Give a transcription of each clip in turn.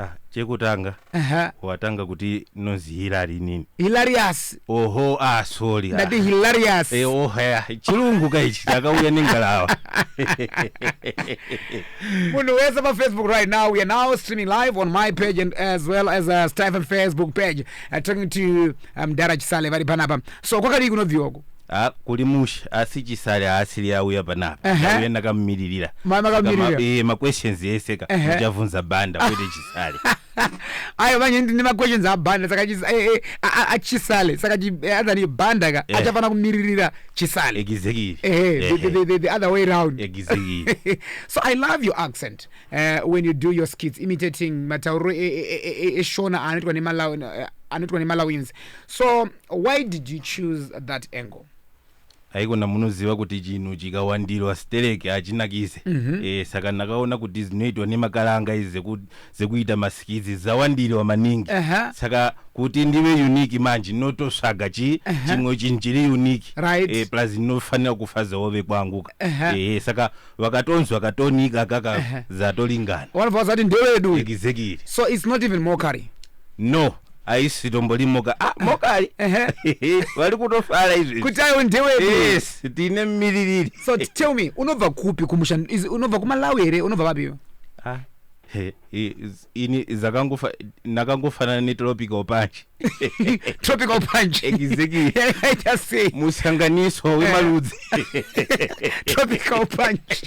ah, chekutanga Aha. watanga kuti nozi hilary nini hilarious oho ah sorry ah. ndati hilarious Eh, oh, haya chirungu ka ichi chakauya nengalawa munhu wese pafacebook right now we are now streaming live on my page and as well as uh, stephen facebook page uh, talking to um, dara chisale vari panapa so kwakadii kunobviwa uku Ah, kuri mushe asi chisari haasiri auya panapa Ehe. auya ndakamumiririra Ma- makamiririra. Saka ma- eh, maquestions ese ka Ehe. muchavhunza bhanda kwete chisari ayo manje ndine maquestions abhanda saka chis- eh, eh, a- a- achisale saka chi- eh, other ni bhanda ka Eh. achafanira kumiririra chisale egizekiri Eh, the, the, the, the other way round egizekiri so i love your accent uh, when you do your skits imitating matauriro e- e- e- e- eshona anoitwa nemalawi eh, anoitwa nemalawins so Why did you choose that angle? haikona munoziva kuti chinhu chikawandirwa stereki hachinakise mm -hmm. e, saka ndakaona kuti dzinoitwa nemakaranga izi dzekuita masikidzi dzawandirwa maningi uh -huh. saka kuti ndive uniki manje ndinototsvaga chi uh -huh. chimwe chinhu chiri uniki right. e, plus ndinofanira kufadzawo vekwangu uh -huh. e, saka vakatonzwa katoni kaka ka Ehe. zatolingana vanobva vazati ndewedu uyu. exactly so it's not even mockery no aisi tomboli moka ah mokali Ehe. vari kutofara izvi kuti ayo ndewedu yes tine miririri so t- tell me unobva kupi kumusha is- unobva kumalawi here unobva vapi iwe Ah, he- he is- ini zakangofa ndakangofanana netropical punch tropical punch exactly yakaita sei musanganiso eh. wemaludzi tropical punch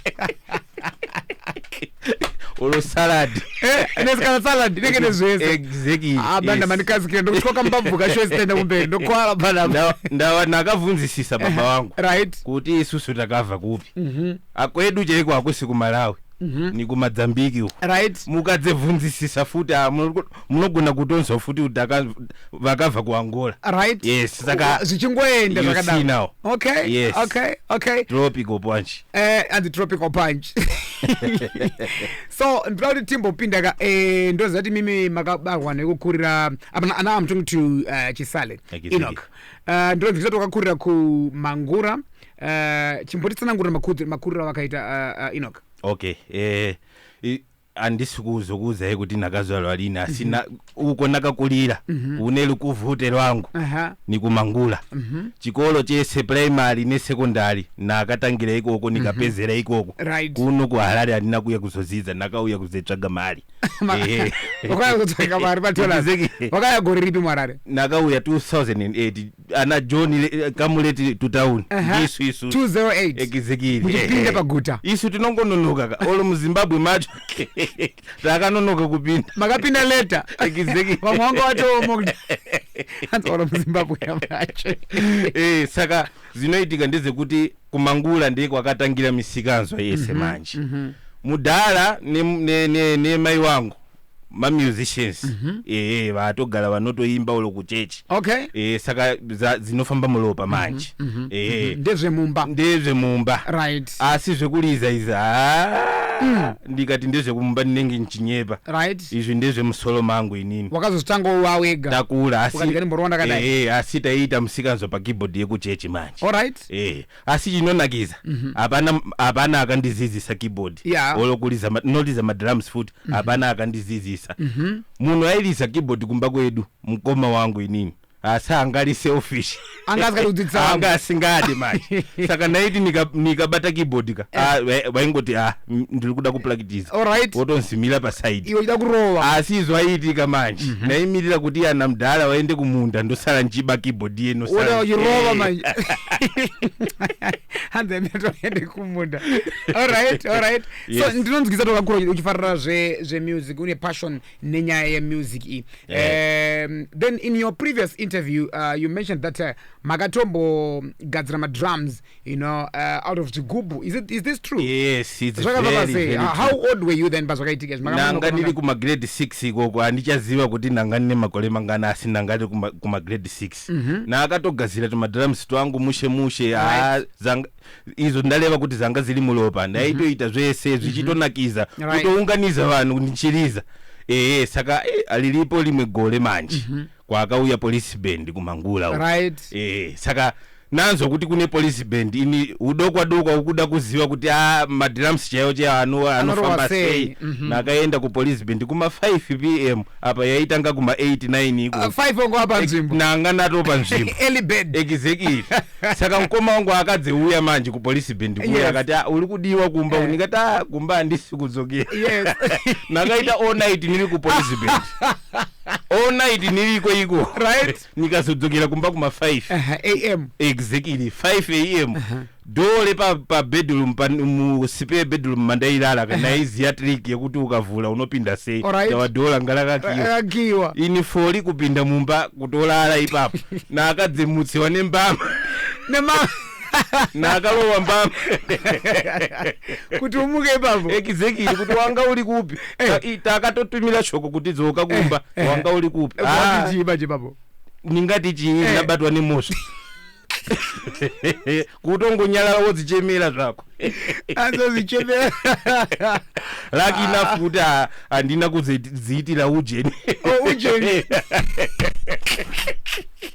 olo salad eh, nesikana salad nenge nezvese exactly abanda ah, mandikazikira ndokutyoka mubabvuka show zitaenda kumberi ndokwara bana ndawa ndakavhunzisisa baba eh, wangu right kuti isusu takabva kupi mhm. Ah, kwedu chaiko hakusi kumalawi ni kumadzambiki uko right mukadzibvunzisisa futi ah, muno- munogona kutonzwa futi kuti aka- vakabva kuangola right Yes, saka- zvichingoenda You see zvakadaro now. okay Yes. okay okay tropical punch eh anzi tropical punch so ndinoda kuti timbopinda ka eh, ndoziva kuti mimi makabarwa nekukurira apana now i'm talking to uh, chisale Akisiki. enoch uh, ndinonzvisa kuti wakakurira kumangura uh, chimbotitsanangurira makudzo- makuriro avakaita uh, uh, enoch okay eh, i- handisi kuzokuudzai kuti ndakazvarwa lini asi na- uko ndakakulira kune lukuvute lwangu Aha. nikumangula chikolo chese primary nesekondari ndakatangira ikoko nikapedzera ikoko Right. kuno kuharare handina kuya kuzodzidza ndakauya kuzotsvaga mari Ma- Ehe. wakauya kuzotsvaga mari padollars Ndizeki- wakauya gore ripi muharare ndakauya 2008 ana john eh, come late to town Aha. ndisu isu 208 Exactly. Muchipinda Eh, paguta. isu tinongononoka ka olo muzimbabwe macho takanonoka kupinda makapinda leta Exactly. vamwe vanga vatooma kuti anzora muzimbabwe yamacho Eh, saka zvinoitika ndezvekuti kumangula ndiye kwakatangira misikanzwa yese manje mudhara nemai ne, ne, nemai wangu mamusicians ehe vatogara vanotoimba ulo kuchechi okay ehe saka za- dzinofamba muropa manje ehe ndezvemumba ndezvemumba right asi zvekuliza izi haa ndikati ndezvekumumba ndinenge ndichinyepa right izvi ndezvemusoro mangu inini wakazozvitanga uwa wega takura asi Ukati ngani mboro wandakadai? ehe asi taiita musikanzwa pakeyboard yekuchechi manje alright ehe asi chinonakidza hapana hapana akandidzidzisa keyboard Yeah. or kuridza ma- ndinoriza madrums futi hapana akandidzidzisa munhu airiza keyboard kumba kwedu mukoma wangu inini asi anga ari selfish Anga asingadi kudzidzisa anga asingadi manje saka ndaiti nika- nikabata keyboard ka ah, vai- vaingoti ah mm, ndiri kuda kuplakitiza Alright. wotonzimira pasaidi Iwe uchida kurova. asi izvo aiitika manje ndaimirira kuti ana mdhara vaende kumunda ndosara ndichiba keyboard yeno Woda uchirova manje. Hanzi aimira toende kumunda. Alright, alright. So Yes. ndinonzwisa tokakura uchi- uchifarira zve zve music une passion nenyaya ye music iyi. Yeah. Um, then in your previous interview uh, you mentioned that uh, makatombogadzira ma drums you know uh, out of chigubhu is, it, is this true yes it's zvakabva very, pasei very Ah, true. how old were you then pazvakaitika izvi? Makanga nanga ndiri munokomanga- kumagrade 6 ikoko handichaziva kuti nanga ndine makore mangani asi nanga ndiri kuma- kumagrade 6 Mhm. naakatogadzira tumadrums twangu mushe mushe haa, dzanga- izvo ndareva kuti dzanga dziri muropa ndaitoita zvese zvichitonakiza Right. kutounganidza vanhu ndichiriza ehe saka eh, aliripo rimwe gore manje Mhm. kwaakauya police band kumangula right. e, saka nanzwa kuti kune police band ini udokwa dokwa ukuda kuziva kuti a ah, madrums chaiwo chaiwo ano, anofamba sei mm -hmm. nakaenda kupolice band kuma 5 pm apa yaitanga kuma 8 9 iko uh, 5 ongo apa nzvimbo nanga nato pa nzvimbo early bed exactly saka mkoma wangu akadze uya manje kupolice band kuya yes. akati ah, uri kudiwa kumba yeah. unikati ah, kumba andisi kudzokera yes. nakaita all night niri kupolice band all night niriko iko right nyika zodzokera kumba kuma 5 am exactly 5 am dole pa, pa bedroom pa, mu spare bedroom mandairara kana aiziya trick yekuti ukavhura unopinda sei Alright. tawa dole ngalakakiwa akakiwa ini foli kupinda mumba kutolala ipapo naakadzimutsiwa nembama nema naakalowa mbama kuti umuke ipapo exactly kuti wanga uri kupi Eh. Ta- i- takatotumira shoko kuti dzoka kumba Eh, eh. wanga uri kupi Ah, watichii manje ipapo ndingati chii Eh. ndabatwa nemosva kutongonyarara wodzichemera zvako azozichemera laki Ah. enough kuti ha- handina kudziitira ujeni Oh, ujeni.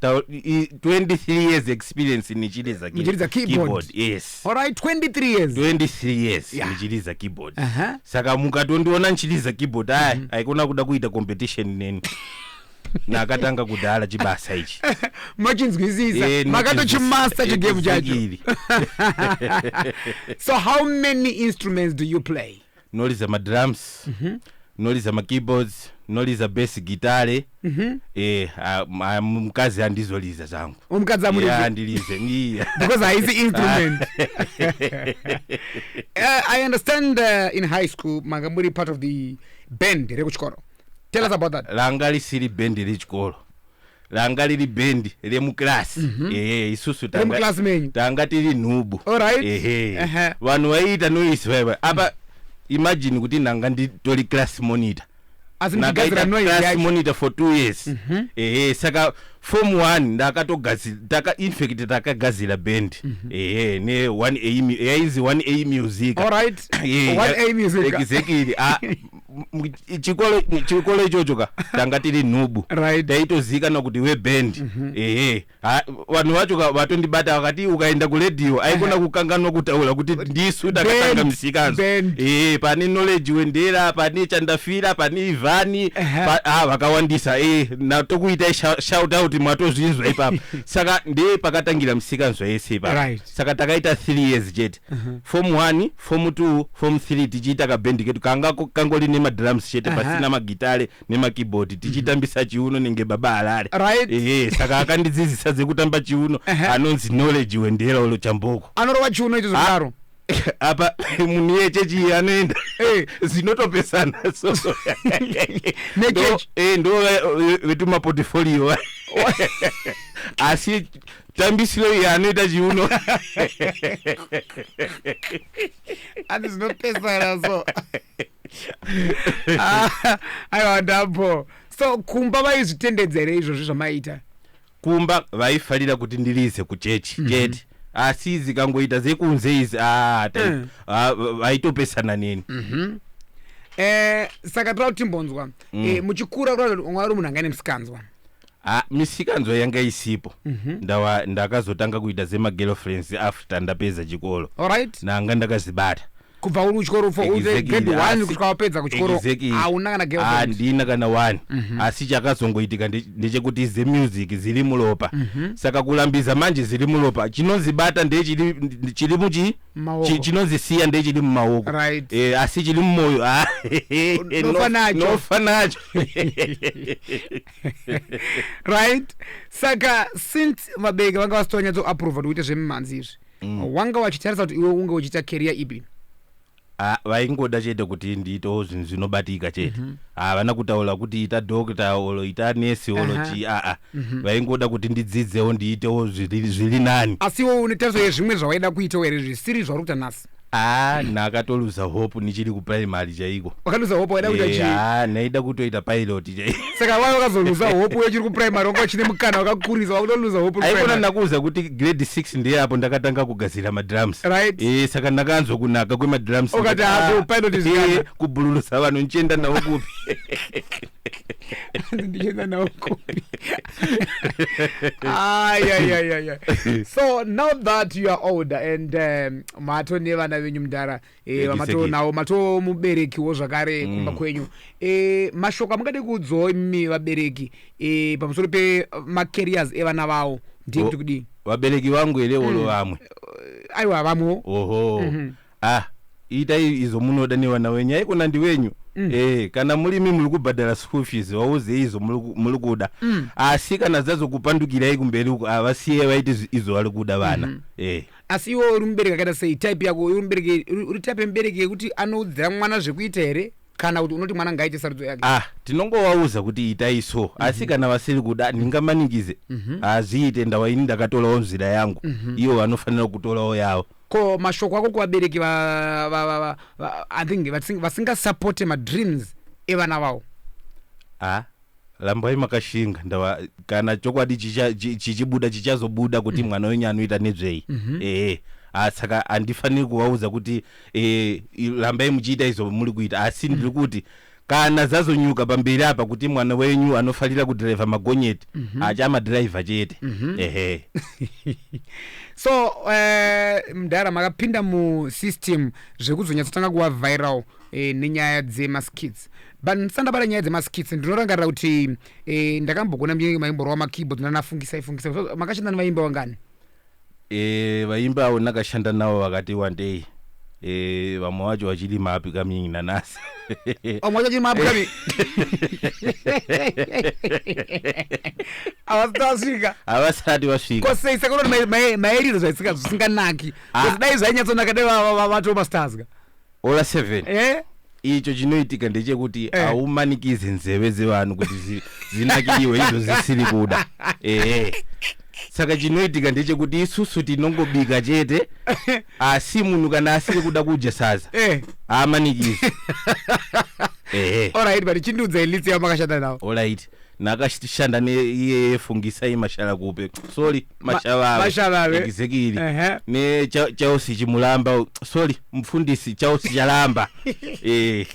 Tau- i- 23 years experience nichiriza ki- Muchiridza keyboard. yes Alright, 23 years. 23 years Yeah. ndichiriza keyboard Aha. saka mukatondiona ndichiriza keyboard aya haikona kuda kuita competition neni nakatanga kudhara chibasa ichi Machinzwisisa. Eh, Makatochimaster eh, chigame chacho. exactly. So how many instruments do you play? ndinoriza madrums ndinoriza makeyboards ndinoriza bass gitare eh ah, ma- mukadzi handizoriza zvangu Mukadzi hamurizi? Yeah, handirize Iya. because haisi instrument uh, i understand uh, in high school manga muri part of the band rekuchikoro tell us about that langa risiri bhendi rechikoro ranga riri band remuclass mhm. ehe isusu tanga tiri nhubu ehe vanhu vaiita noise vaiva apa mm. imagine kuti ndanga nditori class monitor ndakaita class monitor for two years mhm. ehe saka form one ndakatogazira infact takagazira band mhm. ehe ne one a yainzi one a music exactly ah, chikole ichocho ka tanga tiri nhubu right. taitozivikanwa kuti weband mm -hmm. ehe vanhu vacho ka vatondibata vakati ukaenda kuredio aikona kukanganwa kutaura kuti ndisu takatanga misikanzo ehe pane knowledge wendera pane chandafira pane ivhani ah, vakawandisa e natokuitai shout out mwatozvinzwa ipapa saka ndee pakatangira misikanzwa yese ipapa right. saka takaita three years chete Mhm. form 1 form 2 form 3 tichiita kabhendi kedu kanga ko- kangori nemadrums chete Aha. Mhm. pasina magitare nemakeyboard tichitambisa chiuno nenge baba harare Right. ehe saka akandidzidzisa dzekutamba chiuno Ehe. anonzi knowledge wendera ulo chamboko anorova chiuno icho zvakadaro apa munhu yechechi iyi anoenda Eh. zinotopesana so Nechechi. ndo eh, ndo ve- ve- vetumaportfolio asi tambisiro iyi anoita chiuno ati zvinopesana so ah, aiwa ndambo so kumba vaizvitendedza here izvozvi zvamaiita kumba vaifarira kuti ndiriise kuchechi mhm. chete asi izi kangoita zekunze izi ah, mm. ah, vaitopesana neni mhm. eh, saka toda kutimbonzwa mm. eh, muchikura kura mwari munhu angane musikanzwa Ah, misikanzwa yanga isipo Ndawa- ndakazotanga kuita zemagirlfriends after ndapedza chikoro alright nanga ndakazibata kubva uri kuchikoro for uri Exactly, grade one asi- kusvika wapedza kuchikoro exactly. hauna kana girlfriend handina kana one asi chakazongoitika nde- ndechekuti zemusic ziri muropa saka kurambiza manje ziri muropa chinonzibata ndechiri ndi- chiri muchi Maoko. chi- chinonzisiya ndechiri mumaoko Right. Eh, asi chiri mumoyo ah, no- Nofa nacho. nofa nacho right saka since vabereki vanga vasito vanyatso approva kuti uite zvemimhanzi izvi mm. wanga wachitarisa kuti iwe unge uchiita career ipi Ah, vaingoda chete kuti ndiitewo zvinhu zvinobatika chete Mhm. havana kutaura kuti ita doctor or ita nurse or Aha. chii aa Mhm. vaingoda kuti ndidzidzewo ndiitewo zviri zviri nani asi iwe une tariso yezvimwe zvawaida kuitawo here zvisiri zvauri kuita nhasi aa nakatoluza hope nichiri kuprimary chaiko wakaluza hope waida kuita chii aa naida kutoita pilot chaiko saka wai wakazoluza hope uyo chiri kuprimary wanga uchine mukana wakakurisa wakutoluza hope uri aikona primary. nakuuza kuti grade 6 ndiye apo ndakatanga kugadzira madrums Right. eh saka ndakanzwa kunaka kwemadrums Ukati, ndikati, "Ah, "Ah, kupilot is eh, kana." kubhululusa vanhu ndichienda navo kupi ndichienda nawo kupi ayayayaya so now that you are older and um, mato nevana venyu mudhara eh, vamatonawo mato muberekiwo zvakare mm. kumba kwenyu eh, mashoko amungade kuudzawo imi vabereki eh, pamusoro pemacarriers evana vawo ndiye kuti kudii vabereki vangu here mm. olo vamwe eh, aiwa vamwewo oho mm -hmm. ah itai izvo munoda nevana wenyu haikona ndiwenyu Mm. E, kana murimi muri kubhadhara school fees wauze izvo muri kuda mm. asi kana dzazokupandukirai kumberi uko avasiye vaiti izvo vari kuda vana mm -hmm. e. Asi iwewe uri mubereki akaita sei? Type yako uri mubereki uri type yemubereki yekuti anoudzira mwana zvekuita here kana kuti unoti mwana ngaaite sarudzo yake? Ah, tinongovaudza kuti itai so mm -hmm. asi mhm. kana vasiri kuda ndingamanikize mm -hmm. hazviite ndawa ini ndakatorawo nzira yangu mm -hmm. iwo vanofanira kutorawo yavo ko mashoko ako kuvabereki i think vasingasapote madreams evana vavo ah. Rambai makashinga ndava kana chokwadi chichibuda chichazobuda kuti mm. mwana wenyu anoita nezvei mm -hmm. ehe ah, saka handifaniri kuvaudza kuti e, rambai muchiita izvo muri kuita asi ndiri mm. kuti kana zazonyuka pamberi apa kuti mwana wenyu anofarira kudhiraivha magonyeti mm -hmm. achamadhiraivha chete mm -hmm. ehe so uh, mdhara makapinda musystem zvekuzonyatsotanga kuva viral eh, nenyaya dzemaskits but ndisandabata nyaya dzemaskits ndinorangarira kuti eh, ndakambogona mnyenye maimborova makeyboard nanafungisai fungisai So, makashanda nevaimba vangani Eh, vaimbi avo ndakashanda navo vakati wandei Eh, vamwe vacho vachiri mapi kamyingi nanasi vamwe vacho vachiri mapi kami havasati vasvika havasati vasvika kosei saka unoti maeriro zvaisika zvisinganaki Ah. kuti dai zvainyatsonaka dai va- va- va- vatoma stars ka Ola 7 eh? icho chinoitika ndechekuti eh. haumanikize nzeve dzevanhu kuti zi, zinakidiwe izvo zisiri kuda ehe saka chinoitika ndechekuti isusu tinongobika chete asi munhu kana asiri kuda kudya saza eh. haamanikize ehe olright but chindiudza ilitsi yamakashanda nawo olright nakashanda neiyeyefungisai mashala kupe sorry mashavave mashavave. exactly Ehe. ne Cha- chausi chimulamba u- sorry mfundisi chausi chalamba Eh,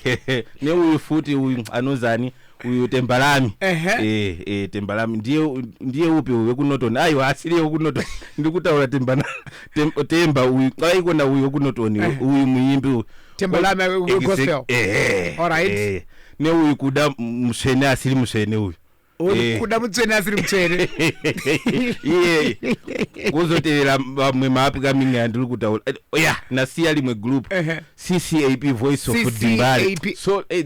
ne uyu futi uyu anozani uyu tembalami Ehe. Eh, eh, tembalami ndiye u- ndiye upi uyu wekunoton aiwa asiriye wekunoton ndikutaura tembana tem- temba uyu aikona uyu wekunoton uyu muimbi uyu Tembalami we- we- Exact- gospel. ehe, Alright. ehe. ne uyu kuda musvene asiri musvene uyu Eh. kuda mutsvene asiri mutsvene iye kuzotevera vamwe maapcoming andiri kutaura Eh, oh yeah nasiya rimwe group Ehe. ccap voice of CCAP. dimbare so eh,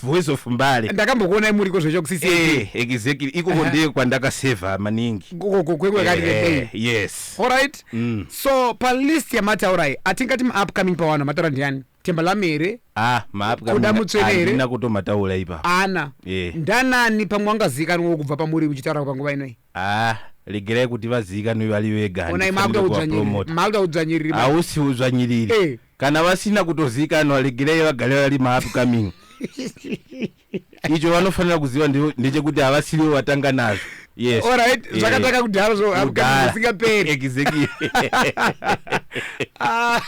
voice of mbare ndakambokuonai muriko zvecho kusisi Eh, exactly ikoko Aha. ndiye kwandakaseva maningi Eh, eh, kwekwekarikei yes alright Mm. so palist yamataurai atingati maupcoming pawanhu mataura ndiani Thembalami here? Ah, maapwa Kuda mutswene here? handina kutomataura ipa. Ana. Eh. Ndanani pamwe wangazikanwa kubva pamuri uchitaura panguva inoi. Ah, regerai kuti vazikanwe vari vega. Onai handifanire makuda udzvanyiriri. kuvapromota. Makuda udzvanyiriri. manje. Hausi udzvanyiriri. Eh. Kana vasina kutozikanwa regerai vagare vari maupcoming. icho vanofanira kuziva ndechekuti havasivo vatanga nazvo yes alright eh, zvakatanga kudhara zvo zvisingaperi exactly ah,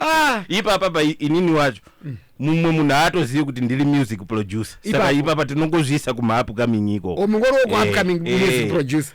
ah. ipapa pa inini wacho mm. mumwe munhu aatozivi kuti ndiri music producer saka ipapa tinongozviisa kumahapcoming iko oh, mungori wekuhapcoming eh, eh. music producer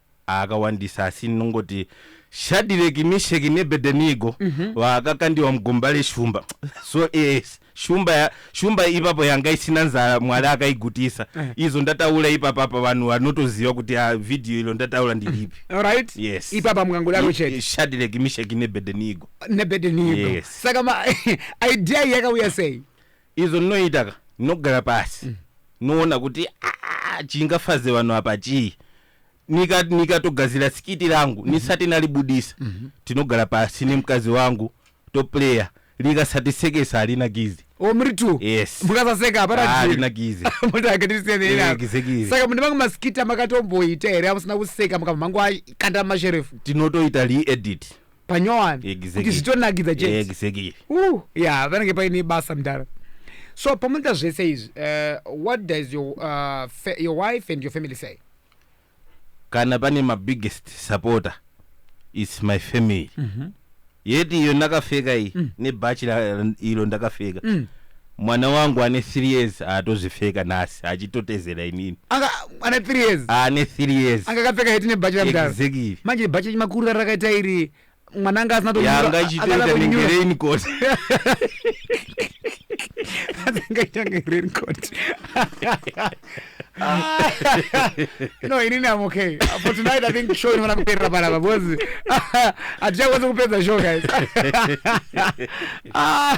aakawandisa asi ndinongoti Shadhireki, Misheki neBhedhenigo vakakandiwa mugomba reshumba. So yes, shumba ya- shumba ipapo yanga isina nzara Mwari akaigutisa. Izvo ndataura ipapa apa vanhu vanotoziva kuti ah, video ilo ndataura ndiripi. Alright? Yes. Ipapa mukangodaro chete Shadhireki, Misheki neBhedhenigo. nebhedhenigo. Yes. Saka ma idea iyi yakauya sei? Izvo ndinoita ka ndinogara pasi ndinoona kuti ah, chingafaze vanhu apa chii. nika nikatogadzira skiti rangu ndisati nalibudisa tinogara pasi nemukadzi wangu toplayer likasatiseka halina gizi o muri two Yes. mukasaseka hapana Ah, deal. halina gizi Moti akatisiyana Eh, henako. exactly. saka mune mamwe maskiti amakatomboita here amusina kuseka mukabva mangokanda masherefu tinotoita re-edit panyowani kuti Exactly. zvitonakidza chete exactly Uh, yeah, vanenge paine basa mdara so pamunoita zvese izvi uh, what does your, uh, fa- your wife and your family say kana pane mabiggest supporter is my family yeti iyo ndakapfeka iyi nebhachi la- ilo ndakapfeka Mwana wangu ane three years atozvipfeka nhasi achitotezera inini. Anga ane three years. Ane three years. Anga akapfeka heti nebhachi ramudhara. Exactly. Manje bhachi rechimakurira rakaita iri mwana anga asina tomira. Yanga ichitoita nenge raincoat. Anga ichitoita nenge raincoat. no inini am okay for tonight i think show inofanira kuperera panapa because hatichakwanisa kupedza show guys Ah,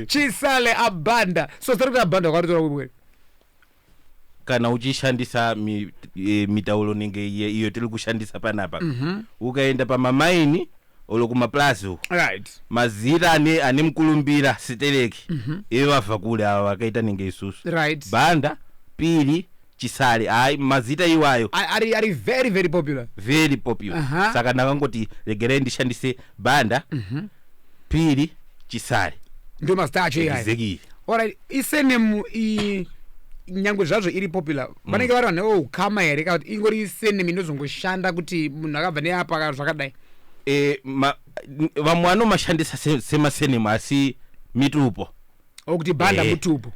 chisale abanda so zita rekuti abanda wakaritora kubwere kana uchishandisa mi, e, mitauro inenge iye- iyo tiri kushandisa panapa ukaenda pamamaini or kumaplazi uko right mazita ane ane mukulumbira sitereki mm-hmm. ive vabva kule ava vakaita nenge isusu right banda piri chisari hayi mazita iwayo ari ari very very popular very popular uh -huh. saka ndakangoti regerai ndishandise banda mm -hmm. piri chisari ndio mazita acho iyayo exactly alright isenemu i nyangwe zvazvo iri popular Mm. vanenge vari vanhu veukama here kana kuti ingori senemi inozongoshanda kuti munhu akabva neapa ka- zvakadai Eh, ma- n- vamwe vanomashandisa se- semasenemu asi mitupo o kuti bhanda Eh. mutupo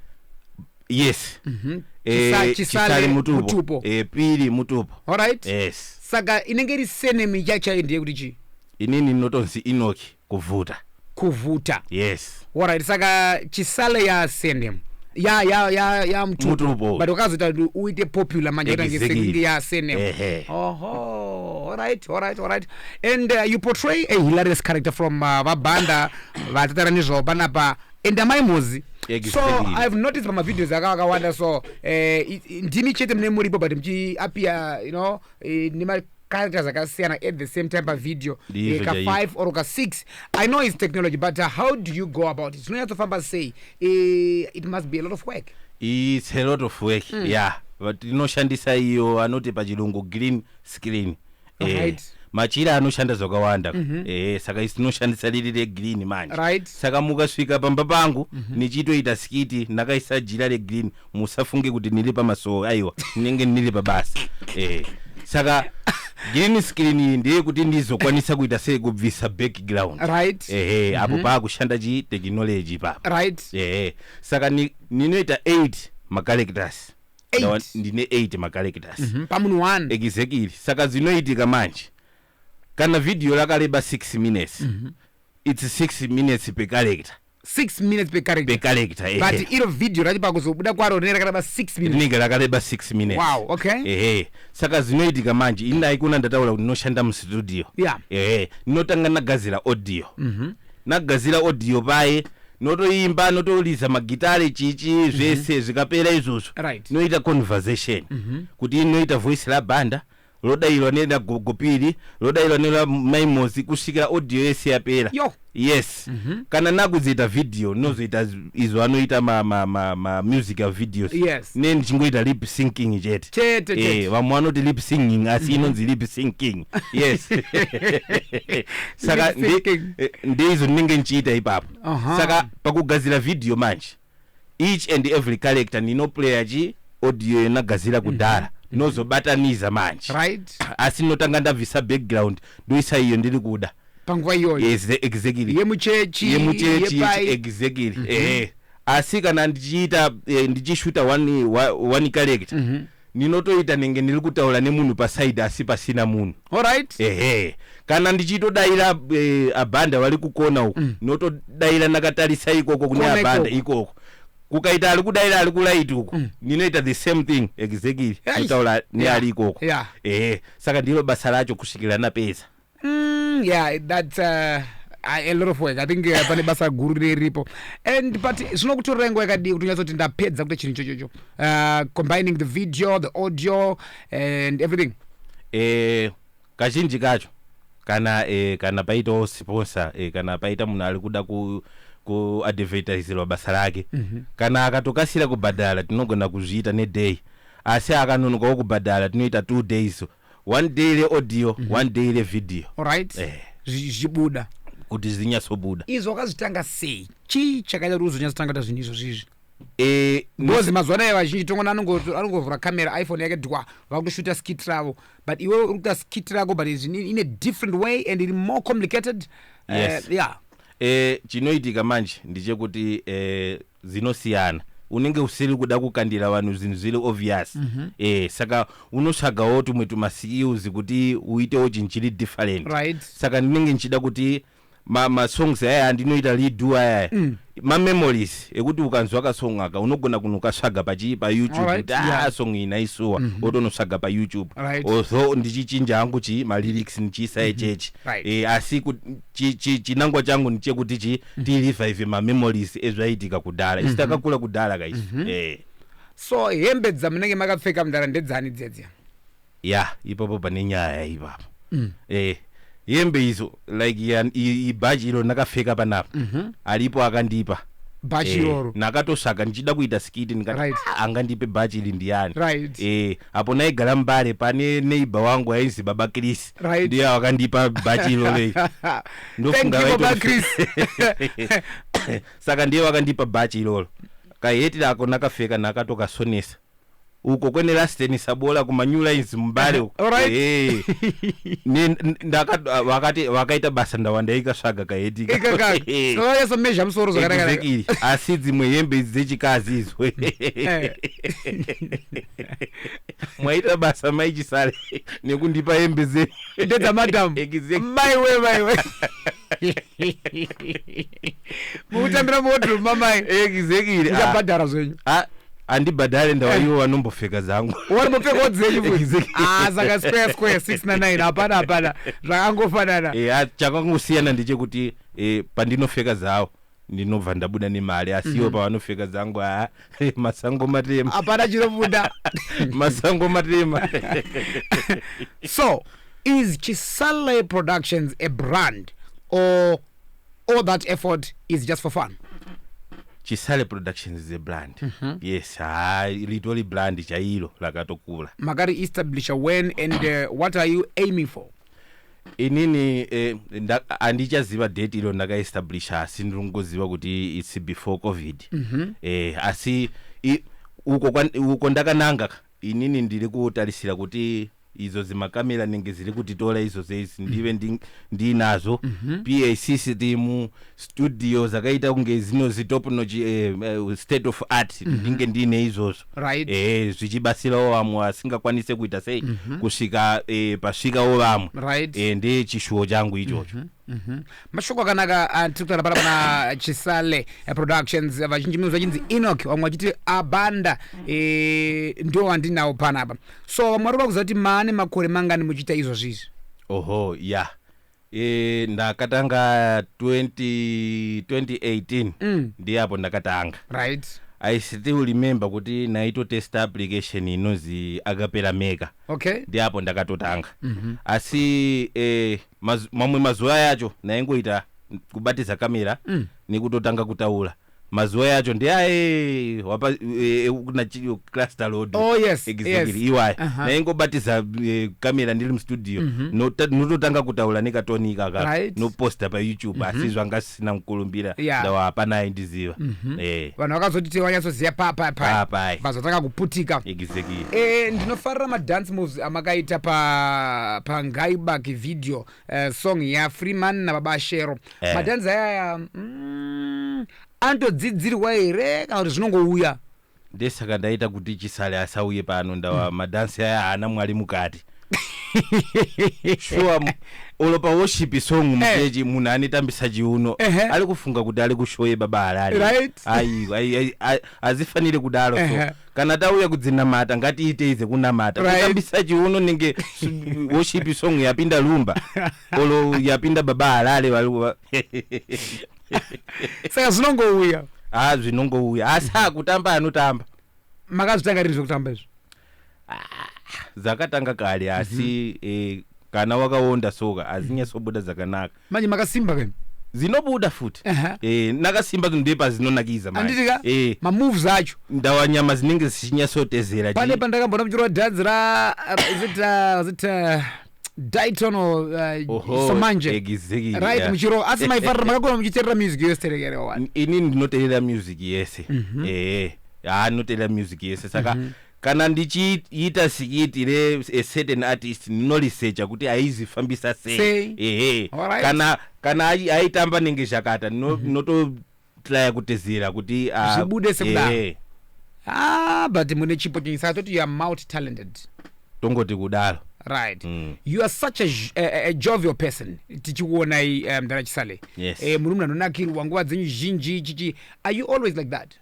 yes Mhm. Eh, Chisa- chisale chisale mutupo mutupo Eh, pili mutupo alright yes saka inenge iri senemi chachayo ndiye kuti chii inini ndinotonzi inoki Kuvhuta. Kuvhuta. Yes. Alright, saka chisale ya surname ya ya ya ya mtupo but wakazoita kuti uite popular manje ita ngesekuti ya surname oho alright alright alright and uh, you portray a hilarious character from uh, vabanda vatatara nezvavo panapa and amai mozi so i've noticed pamavideos aka akawanda so eh, ndimi chete mune muripo but mchiapia you know eh, nema characters akasiyana at the same time pavideo Ndizvo eh, ka chaiko. 5 or ka 6 i know it's technology but uh, how do you go about it zvinonyatsofamba sei Eh, it must be a lot of work its a lot of work mm. yeah but inoshandisa iyo anoti pachirungu green screen Eh, Right. machira anoshanda zvakawanda mm-hmm. eh, saka isi tinoshandisa riri regreen manje Right. saka mukasvika pamba pangu mm-hmm. nichitoita skiti ndakaisa jira regreen musafunge kuti ndiri pamasowe aiwa ndinenge ndiri pabasa eh. saka green screen iyi ndeye kuti ndizokwanisa kuita sei kubvisa background right ehe apo paakushanda chi technology papa right ehe saka ni- ninoita 8 macarectors Eight. Ndawa- ndine 8 macarectors Mhm, pamunhu one exactly saka zvinoitika manje kana vhidhiyo rakareba 6 minutes its six minutes per character six minutes per character per character ehe. but iro video racho pakuzobuda kwaro rinenge rakareba six minutes rinenge rakareba six minutes Wow, okay. ehe saka zvinoitika manje ini aikona ndataura kuti ndinoshanda mustudio Yeah. ehe ndinotanga ndagadzira audio ndagadzira audio paye notoimba notoliza magitare chichi zvese zvikapera izvozvo Right. noita conversation kuti inoita voice rabanda rodairwa nera gogo piri rodairwa nera mai mosi kusvikira audio yese yapera Yo. yes Mhm. kana nakuzoita video ndinozoita z- izvo anoita ma, ma, ma, ma musical videos Yes. ne ndichingoita lip syncing chete Chete, Eh, chete. vamwe vanoti lip singing asi inonzi lip syncing yes saka Lip syncing. ndi- eh, ndeizo ndinenge ndichiita ipapo Aha. saka pakugadzira video manje each and every character ndinoplaya chi audio yenagazira kudhara mm -hmm. nozobataniza manje right. asi ndinotanga ndabvisa background ndoisa iyo ndiri kuda panguva iyoyo exactly yemuchechi yemuchechi exactly mm -hmm. eh asi kana ndichiita eh, ndichishuta one, one character mm -hmm ndinotoita nenge ndiri kutaura nemunhu paside asi pasina munhu Alright. ehe kana ndichitodaira eh, abhanda vari kukona uku ndinotodaira ndakatarisa ikoko kune Kona abhanda ikoko. ikoko kukaita ari kudaira ari kuraiti uku ndinoita the same thing exactly Eish. kutaura neari ikoko Yeah. ehe saka ndiro basa racho kusvikira napedza Mm, yeah, that's uh, a lot of work. I think uh, pane basa guru riripo. And but zvinokutorera nguva yakadii kuti unyatsoti ndapedza kuita chinhu chochocho. Uh, combining the video, the audio and everything. Eh, kazhinji kacho kana eh, kana paitawo sponsor eh, kana paita munhu ari kuda ku kuadvertiserwa basa rake mm -hmm. kana akatokasira kubhadhara tinogona kuzviita neday asi akanonokawo kubhadhara tinoita two days one day le audio mm -hmm. one day le video right eh. zvichibuda kuti zinyatsobuda izvo wakazvitanga sei chii chakaita kuti uzonyatsotanga ta zvinhu izvo zvizvi eh, because mazuva anayo vazhinji tongona anongovhura camera iphone yake dwa vakutoshuta skit ravo but iwe uri kuita skit rako but in a different way and iri more complicated eh, yes. uh, yeah eh, chinoitika manje ndichekuti eh, dzinosiyana unenge usiri kuda kukandira vanhu zvinhu zviri obvious mm -hmm. eh, saka unotsvagawo tumwe tumaskills kuti uitewo chinhu chiri different right. saka ndinenge ndichida kuti masongs ma aya andinoita lidu ayaya mm. mamemories ekuti ukanzwa kasong aka unogona kunokasvaga pachii payoutube right, kuti ah, yeah. asong iyi naisuwa mm -hmm. otonosvaga payoutube right. although ndichichinja hangu chii malyrics ndichiisa echechi mhm. mm -hmm. right. e, asi chi, chi, chinangwa changu ndichekuti chi mm. tirevive mamemories ezvaiitika kudhara isu mhm. takakura kudhara kaisu mm -hmm. eh. so hembe dzamunenge makapfeka mudhara ndedzani dzedzia ya ipapo pane nyaya ipapo mm. eh hembe izo like ibhachi iro ndakapfeka panapa mm -hmm. alipo akandipa bhachi eh, iroro eh, nakatosvaga ndichida kuita skiti ndikati right. Ah, angandipe bhachi iri ndiyani right. eh, apo naigara mbare pane neighbor wangu ainzi baba chris Right. ndiye wakandipa bhachi iroro iri ndofunga Thank you, Baba vaitomufe- saka ndiye wakandipa bhachi iroro kaheti rako nakapfeka nakatokasonesa uko kwene rasteni sabola kumanew lines mumbare uko. Alright. Eh. Ne- n- ndaka- vakati- vakaita basa ndawandaikasvaga kaheti ika. ikaka Eh. so yesa measure musoro zvakanaka Exactly. asi dzimwe hembe idzi dzechikazi idzo mwaita basa mai chisale nekundipa hembe dzenyu ndedzamadam Exactly. maiwe maiwe mukutambira muwodrobe mamai Exactly. Ah, muchabhadhara zvenyu ah, handibhadhare ndawa ivo vanombopfeka dzangu warimbopfekawo dzenyu futi Exactly. Ah, saka square square 6 na 9 hapana hapana zvakangofanana Eh, ah, chakangosiyana ndechekuti eh, pandinopfeka dzawo ndinobva ndabuda nemari asi iwo pavanopfeka dzangu haa masango matema hapana chinobuda masango matema so is chisale productions a brand or all that effort is just for fun chisale productions is a brand yes haa litori brand chairo rakatokura makari establisher when and uh, what are you aiming for inini eh, nda- handichaziva date iro ndakaestablisha asi ndiri kungoziva kuti its before covid eh, asi i- uko kwan- uko ndakananga inini ndiri kutarisira kuti idzo dzimakamera nenge dziri kutitora idzo dzeizi ndive ndi- ndiinazvo pac sitimu studio dzakaita kunge dzino zitop nochi eh, eh, state of art mm -hmm. ndinge ndiine izvozvo right. eh, zvichibatsirawo vamwe vasingakwanise kuita sei mm -hmm. kusvika eh, pasvikawo vamwe right. eh, ndechishuwo changu ichocho mm -hmm. Mm -hmm. mashoko akanaka ah, tiri kutaura pala pana chisale eh, productions eh, vazhinji mino vachinzi enok vamwe vachiti abanda e, ndio wandinawo panapa so vamwe vari vakuziva kuti maane makore mangani muchiita izvozvizvi oho ya yeah. E, ndakatanga 20, 2018 Mm. ndiye apo ndakatanga right i still remember kuti naitotesta application inonzi akapera mega okay ndiye apo ndakatotanga Mhm. asi eh, maz, mamwe mazuva yacho naingoita kubatiza kamera Mm. nekutotanga kutaura mazuva yacho ndeaehwa kuna cluster load oh, yes, exactly yes. iwaya uh -huh. naingobatisa eh, kamera ndiri mustudio mm -hmm. nototanga no, kutaura nekatoni ikaka right. noposta payoutube mm -hmm. asi mhm. zvanga zvisina mukurumbira yeah. ndawa hapana aindiziva mm -hmm. eh. vanhu vakazotiti vanyatsoziva papapapai vazotanga kuputika exactly. eh, ndinofarira madance moves amakaita pa, pa ngaibaki video eh, song ya freeman nababa shero Eh. madhanzi ayaya mm, anotodzidzirwa here kana kuti zvinongouya ndesaka ndaita kuti chisale asauye pano ndawa madhansi aya haana mwari mukati shuwa mu- olo pa worship song muchechi munhu anetambisa chiuno Ehe. ari kufunga kuti ari kushoye baba harare Right. ayi ayi- ayi- a- azifanire kudaro so Ehe. kana tauya kudzinamata ngatiitei dzekunamata Right. kutambisa chiuno nenge s- worship song yapinda lumba olo yapinda baba halale valuva saka zvinongouya ha zvinongouya asi akutamba anotamba makazvitanga rini zvekutamba izvi dzakatanga kare asi eh, kana wakaonda soka hazinyatsobuda dzakanaka manje makasimba kani dzinobuda futi Aha. Eh, nakasimba kuti ndepazinonakidza manje. anditi ka Eh, mamoves acho ndawa nyama dzinenge dzichinyasotezera pane pandakambona muchirova dhanzi ra zita zita dayton or uh, somanje exactly, right yeah. muchirova asi maifarira makakona muchiterera music yose terekerewa wani ini ndinoteerera music yese ehe haa ndinoteerera music yese saka Kana ndichiita sikiti re a certain artist ndino researcher kuti aizifambisa sei. Sei. Ehe. Alright. Kana kana ai- aitamba nenge zhakata ndino- ndinototraya kutezera kuti ah, Zvibude sekudaro. ehe. ah but mune chipo chenyu saka toti you are multi talented Tongoti kudaro. right Mm. you are such a, j- a, a- a jovial person tichikuonai um, mdara chisale Yes. eh, muri munhu anonakirwa nguva dzenyu zhinji chichi are you always like that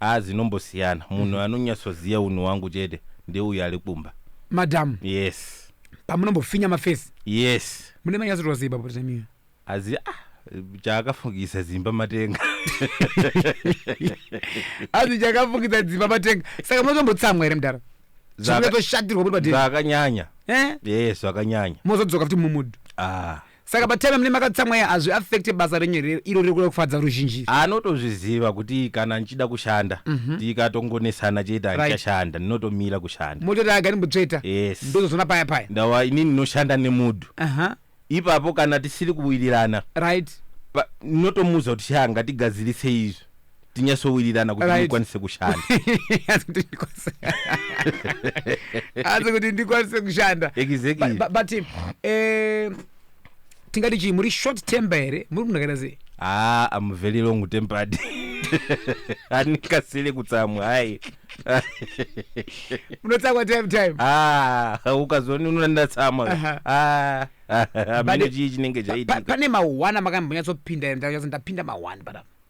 Haa dzinombosiyana munhu anonyatsoziva unhu wangu chete ndeuyo ari kumba. Madam. Yes. Pamunombofinya mafesi. Yes. Mune manyatsoitwa sei ipapo time iyo? Azi ah chaakafungisa dzimba matenga azi chakafungisa dzimba matenga saka munotombotsamwa here mudhara zvaakatoshatirwa muri padeni zvakanyanya eh? yes zvakanyanya mozodzoka futi mumudhu ah. saka patime mune makatsamwa iya hazvi affecte basa renyu here iro riri kuda kufadza ruzhinji anotozviziva kuti kana ndichida kushanda tikatongonesana chete Right. handichashanda ndinotomira kushanda mototi aga ndimbotsveta yes ndozozona paya paya ndawa ini ndinoshanda nemudu aha ipapo kana tisiri kuwirirana right pa- ndinotomuudza kuti shaa ngatigadzirise izvi tinyatsowirirana kuti Right. ndikwanise kushanda Asi kuti ndikwanise- asi kuti ndikwanise kushanda Exactly. But- but- but eh, tingati chii muri short temper here muri kunakaita sei ah i'm very long tempered andikasire kutsamwa hayi munotsamwa time time ah ukazoona unoona ndatsamwa Aha. ah But- amene chii chinenge Pa- pa- chaitika pane mahwana makambonyatsopinda here ndakanyatso ndapinda mahwani panapa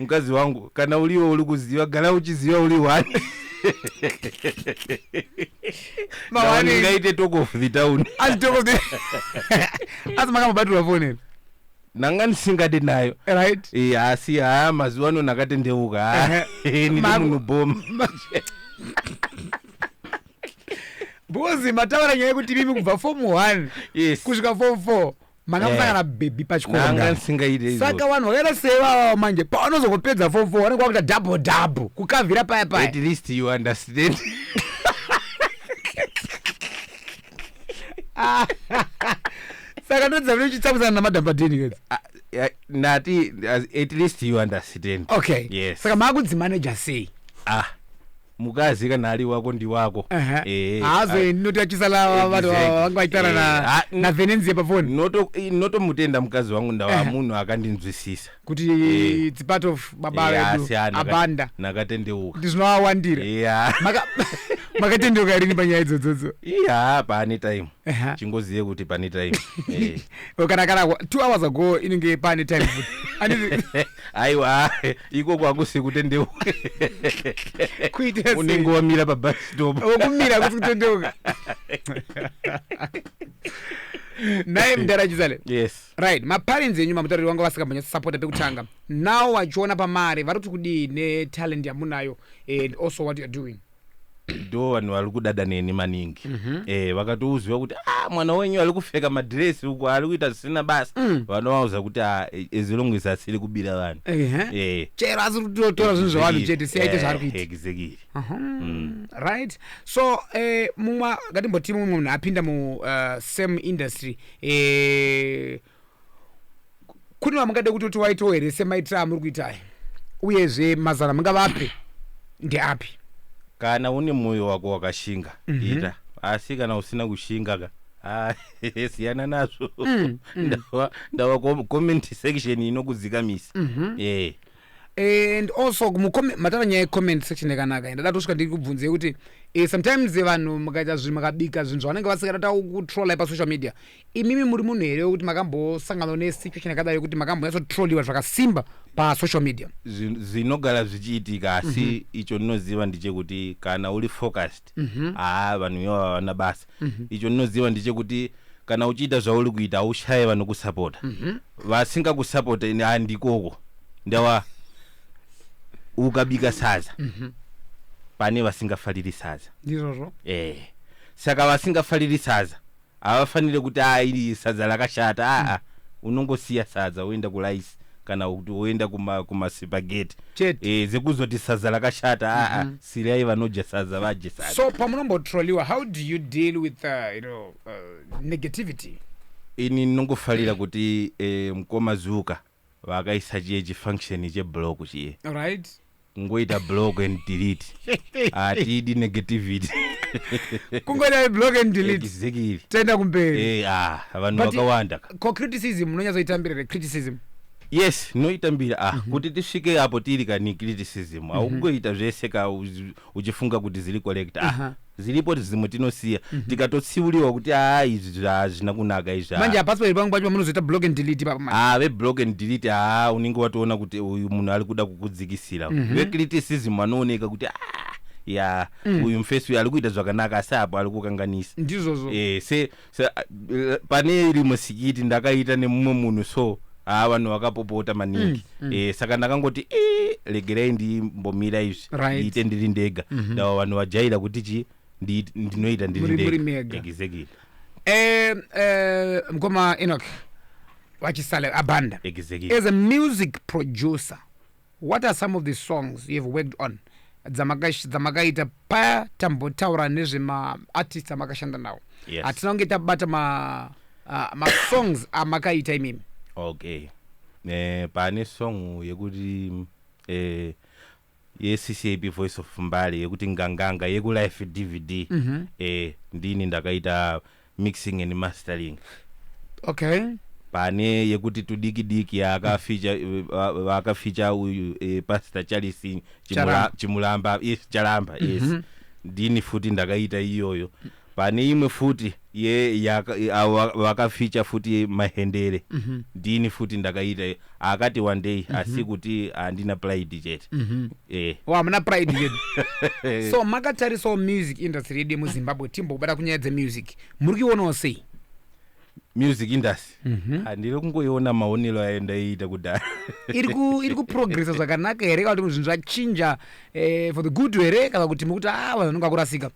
mukadzi wangu kana uriwe uri kuziva gara uchiziva uri one Mawanei. ngaite talk of the town Asi toko the. Asi makamubatirwa phone here? ndanga ndisingade nayo Right? Eh, asi haa mazuva ano ndakatendeuka haa ndiri Maku- munhu bhoma Because mataura nyaya yekuti mimi kubva form 1 yes kusvika form 4 makamusangana eh. bhebhi pachikonga saka vanhu vakaita sei vavavo manje pavanozongopedza fom fo vanenge vakuita double double kukavhira paya paya at least you understand saka ndodza vine uchitsamwisana namadhampadini kedzi ah, eh, ndati at least you understand okay yes saka maakudzimaneja sei ah mukadzi kana ari wako ndiwako Aha. Eh, haazoendi noti achisala vanhu Exactly. vanga vachitara na- Eh, ah, mm. navenenzia pafoni Noto- i- notomutenda mukadzi wangu ndava Ehe. munhu akandinzwisisa kuti Eh. it's part of baba Eh, vedu asi, ah, naka- abanda nakatendeuka kuti zvinovawandira iya Maka- makatendeuka rini panyaya idzodzodzo iya pane time Ehe. chingozive kuti pane time Eh. kana kana kwa- two hours ago inenge pane time futi Anditi- aiwa iko kwakusi kutendeuka kuita unenge wamira pabus stop wokumira kusi kutendeuka naye mdara chizale yes right maparents enyu mamutariri wanga vasikambonyatsa sapota pekutanga now wachiona pamari vari kuti kudii netalent yamunayo and also what youare doing ndo vanhu vari kudada neni maningi Mhm. eh, vakatouziva kuti ah, mwana wenyu ari kupfeka madhiresi uku ari kuita zvisina basa Mm. vanovauza kuti ah, as long as asiri kubira vanhu Ehe. Eh, chero asi kutotora zvinhu zvevanhu exactly. chete siyaite Eh, zvaari kuita exactly. Aha. Mm. right so eh, mumwe ngatimboti mumwe munhu apinda mu uh, same industry eh, kune vamungade kutoti waitawo here semaitire amuri kuita aya uyezve mazano amungavape ndeapi kana une mwoyo wako wakashinga mm -hmm. ita asi kana usina kushinga ka ah, siyana nazvo mm, mm. ndava, ndava comment section inokudzikamisa mm -hmm. yeah and also matara nyaya yecomment section yakanaka ndada tosvika ndiri kubvunza yekuti eh, sometimes vanhu mukaita zvinhu makabika zvinhu zvavanenge vasingada ta kutrolla pasocial media imimi muri munhu here wekuti makambosanganwa nesituation yakadaro yekuti makambonyatsotroliwa zvakasimba pasocial media Zvi- zvinogara zvichiitika asi Mhm. icho ndinoziva ndichekuti kana uri focused Mhm. haa vanhu ivo havana basa Mhm. icho ndinoziva ndichekuti kana uchiita zvauri kuita haushaye vanokusapota Mhm. vasingakusapota ini handikoko ndawa ukabika sadza Mhm. pane vasingafariri sadza ndizvozvo eh saka vasingafariri sadza Havafanire kuti aa iri sadza rakashata aa unongosiya sadza woenda kurice kana kuti woenda kuma kumasipageti Chete. eh, dzekuzoti sadza rakashata aa sirai vanodya sadza vadye sadza. So pamunombotroliwa how do you deal with uh, you know, uh, negativity? Ini ndinongofarira kuti eh, mkoma Zuka vakaisa chiye chifunction cheblock chiye right kungoita block and delete hatidi negativity kungoita block and delete exactly tenda kumberi eh ah vanhu vakawanda ko criticism unonyatsoitambira re criticism yes noitambira ah mm -hmm. kuti tisvike apo tiri kani criticism mm -hmm. aungoita zvese ka uchifunga kuti ziri correct ah, Aha. ziripo dzimwe tinosiya tikatotsiuriwa kuti aa izvi zvi- hazvina kunaka izvi ah. manje hapasi pairi pangu pacho pamunozoita block and delete ipapo manje Ah, veblock and delete haa unenge watoona kuti uyu munhu ari kuda kukudzikisira vecriticism vanooneka kuti ah, ya uyu mfesi uyu ari kuita zvakanaka asi apo ari kukanganisa ndizvozvo Eh, se Se, a- eh, pane iri musikiti ndakaita nemumwe munhu so haa vanhu vakapopota maningi Mm, mm. Eh, saka ndakangoti "Eh, regerai ndimbomira izvi Right. ndiite ndiri ndega Mhm. ndawa vanhu vajaira kuti chi ndi- ndinoita ndiri Muri- muri ndega mega. exactly Eh, eh, mkoma enoch vachisale abanda exactly as a music producer What are some of the songs you have worked on dzamakash- dzamakaita paya tambotaura nezvema artists amakashanda nawo Yes. hatina kunge tabata ma ah, masongs amakaita imimi okay eh, pane song yekuti eh, yeccap voice of mbali yekuti nganganga yekulife dvd mm-hmm. eh, ndini ndakaita mixing and mastering okay pane yekuti tudiki diki yaakaficha va- vaakaficha uyu eh, pastor charles Chimula- Charamba. chimulamba yes charamba yes Mhm. ndini futi ndakaita iyoyo pane imwe futi ye yaka- ava- vakaficha futi mahendere Mhm. ndini futi ndakaita akati wandei asi kuti handina pride chete eh wa hamuna pride yedu so makatarisawo music industry yedu yemuzimbabwe timbobata kunyaya dzemusic muri kuionawo sei music industry handiri kungoiona maonero ayo ndaiita kudhara iri ku- iri kuprogressa zvakanaka here kana kuti zvinhu zvachinja eh, for the good here kana kuti mukuti a vanhu vanenge vakurasika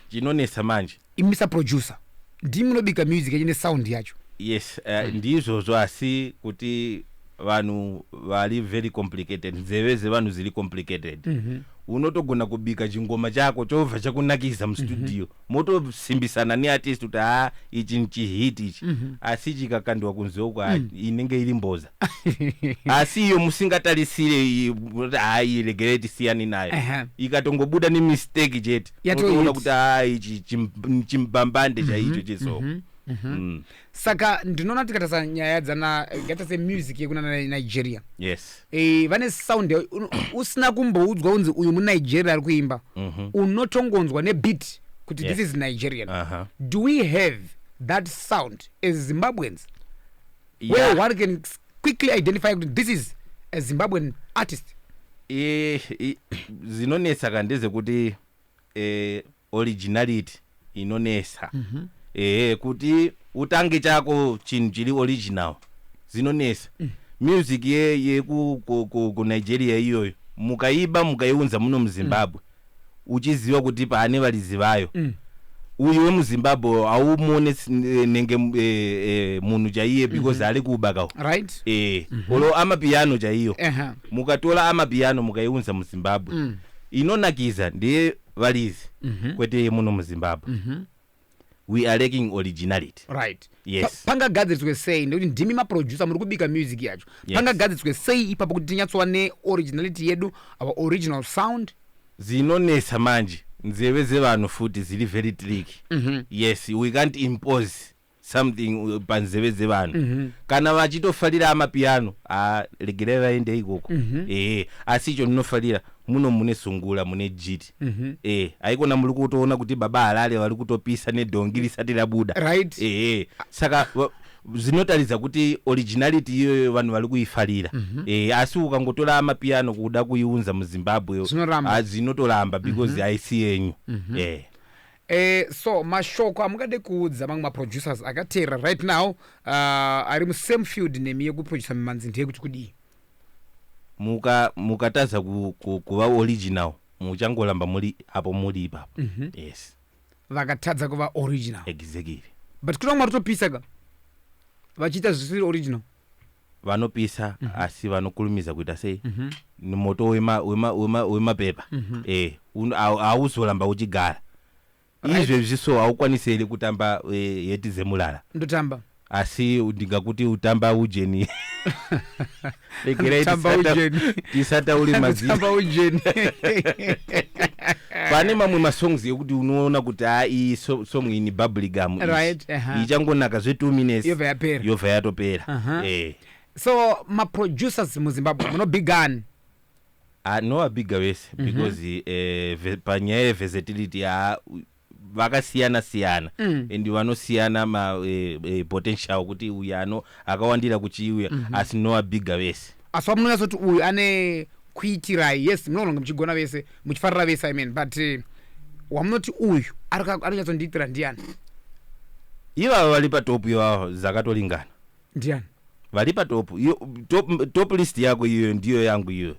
chinonetsa manje Imi Mister Producer ndimi munobika music yacho ne sound yacho. Yes uh, ndizvozvo asi kuti vanhu vari very complicated nzeve dzevanhu dziri complicated mm -hmm. unotogona kubika chingoma chako chobva chakunakidza mustudio mm -hmm. motosimbisana neartist kuti ha ichi chihit ichi mm -hmm. asi chikakandiwa kunze uko mm. inenge iri mboza asi iyo musingatarisire kuti ha iregerei tisiyani nayo uh -huh. ikatongobuda nemistake chete Yatoita. unotoona kuti haa ichi chim- chimbambande chaicho chesoko Mm. saka ndinoona tikatarisa nyaya dzana ngata se music yekunana nigeria yes Eh, vane sound ya- uno- usina kumboudzwa unzi uyu munigeria ari kuimba unotongonzwa nebit kuti this Yes. is nigerian Aha. do we have that sound as zimbabweans yeah. where one can quickly identify kuti this is a zimbabwean artist zinonetsa ka ndezekuti eh, originality inonetsa mm -hmm. eh, kuti utange chako chinhu chiri original zinonetsa mm. music yekunigeria ye, ye, iyoyo mukaiba mukaiunza muno muzimbabwe mm uchiziva kuti paane varidzi vayo mm. uyu wemuzimbabwe haumuone eh, nenge eh, eh, munhu chaiye mhm. because ari kuba kawo right eh mhm. olo amapiano chaiyo mukatora amapiano mukaiunza muzimbabwe mm. inonakidza ndeye varidzi mhm. kwete yemuno muzimbabwe we are lacking originality right yes. pa, pangagadziriswe sei nekuti ndimi maproducer muri kubika music yacho yes. pangagadziriswe sei ipapo kuti tinyatsova neoriginality yedu our original sound zinonetsa manje nzeve dzevanhu futi dziri very trick mm -hmm. yes we can't impose something uh, panzeve dzevanhu mm -hmm. kana vachitofarira amapiano regerai vaende ikoko mm -hmm. ehe asi icho ndinofarira muno mune sungula mune jiti Mhm. eh haikona muri kutoona kuti baba harare vari kutopisa nedhongi risati rabuda Right. eh saka va- zvinotaridza kuti originality iyoyo vanhu vari kuifarira Mhm. eh asi ukangotora mapiano kuda kuiunza muzimbabwe Zvinoramba. ah, zvinotoramba because Mhm. haisi yenyu Mhm. eh Eh, so mashoko amungade kuudza mamwe maproducers akateera right now uh, ari musame field nemi yekuproducer mimanzi ndeyekuti kudii muka mukatadza ku, ku, kuva original muchangoramba muri apo muri ipapo mm -hmm. yes vakatadza kuva original exactly but kuna mwari topisa ka vachiita zvisiri original vanopisa mm -hmm. asi vanokurumidza kuita sei mm -hmm. nemoto wemapepa wema, wema, wema mm -hmm. eh, hauzoramba uchigara Right. izvezvi so haukwanise here kutamba eh, heti dzemulala ndotamba asi ndingakuti utamba ujeni regerai Ndotamba tisata- ujeni. tisataure mazita ndotamba ujeni pane mamwe masongs ekuti unoona kuti haa iyi so- song iyi ni bubblegum iyi. Right, aha. ichangonaka zve two minutes Yobva yapera. yobva yatopera Aha. Eh. so maproducers muzimbabwe munobigani Haa no abigger vese because eh, ve- panyaya yeversatility haa u- vakasiyana siyana and vanosiyana ma eh, eh, potential kuti uyu ano akawandira kuchiuya asi no abigger vese asi pamunonatsoti uyu ane kuitirai yes munoona kunge muchigona vese muchifarira vese i mean but eh, wamunoti uyu arika- anonyatsondiitira ndiani ivavo vari patopu ivavo zakato lingana ndiani vari patop iyo top, top list yako iyoyo ndiyo yangu iyoyo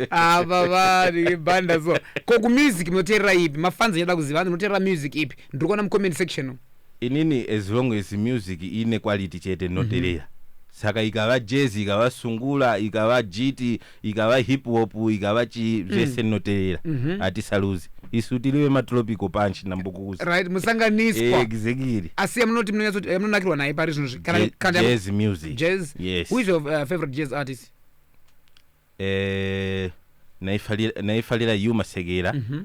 ava vari banda so ko kumusic munoteerera ipi mafans achada kuziva hanzi munoteerera music ipi ndiri kuona mucomment section umu. inini as long as music ine quality chete ndinoterera saka ikava jazz ikava sungula ikava jiti ikava hip hop ikava chii mm. zvese ndinoteerera mhm. hatisaluzi isu tiri vematropical punch nambukuzi right musanganiswa exactly asi yamunoti munonakirwa eh, naye pari zvino zvijazz music jazz yes who is your uh, favorite jazz artist eh naifarira yu masekera mhm.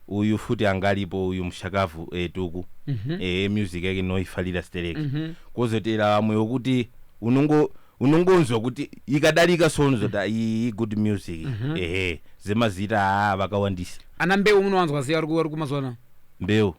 uyu futi anga alipo uyu mushakavu etuku eh, mhm. eh music yake noifarira stereki kozotera vamwe wokuti unongo unongonzwa kuti ikadarika so unozoti mm. iyi good music mm -hmm. ehe zemazita haa vakawandisa ana mbeu munowanzwa sei vari kumazuva mbeu